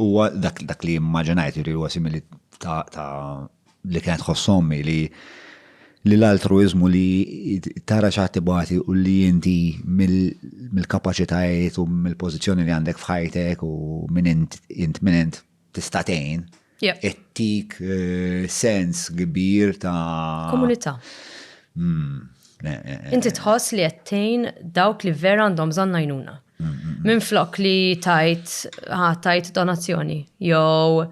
Huwa dak dak li immaġinajt li huwa simili ta' ta' li kienet ħossommi li li l-altruizmu li tara xaħat tibati u li inti mill-kapacitajiet u mill-pozizjoni li għandek fħajtek u minn int int minn int tistatejn ettik eh, sens kbir ta' komunità. Hmm, eh, eh, inti tħoss li għettejn dawk li vera għandhom bżonn najnuna. Minn flok li tajt, tajt donazzjoni, jew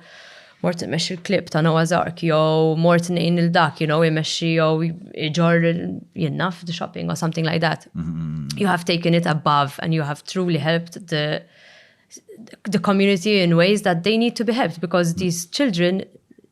mort mex il-klib ta' Noah Zark, jew mort nejn il-dak, you know, imexxi jew iġor jinnaf the shopping or something like that. You have taken it above and you have truly helped the the community in ways that they need to be helped because these children